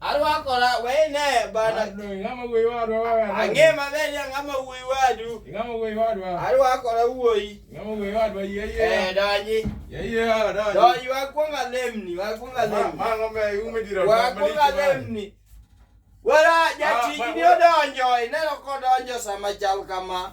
arwakola wene bana ang'e maber ya ng'ama wuoyi wadu arwakola wuoyi eh, donji donji wakwonga lemni wakwonga lemni wakwonga lemni wala jatijni odonjo ineno kodonjo sama chal kama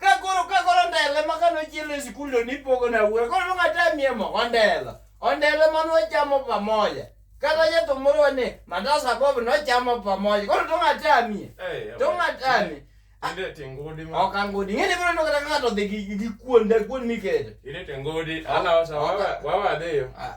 Ka koro ka koro ndele ma kano chielo e sikul to nipogo na wuoyo. Koro nonga tamie mo ondela. Ondela ma nwachamo pamoja. Kata jathum moro wane mandasa bob nochamo pamoja. Koro nonga tamie. Eh, To ng'at ani. Ilete ngudi ma. Ok angudi. Ng'eni biro nokata ng'ato dhi gi gi kuonda kuon mikete. Ilete ngudi. Ala wasa wawa wawa adhiyo. Ah,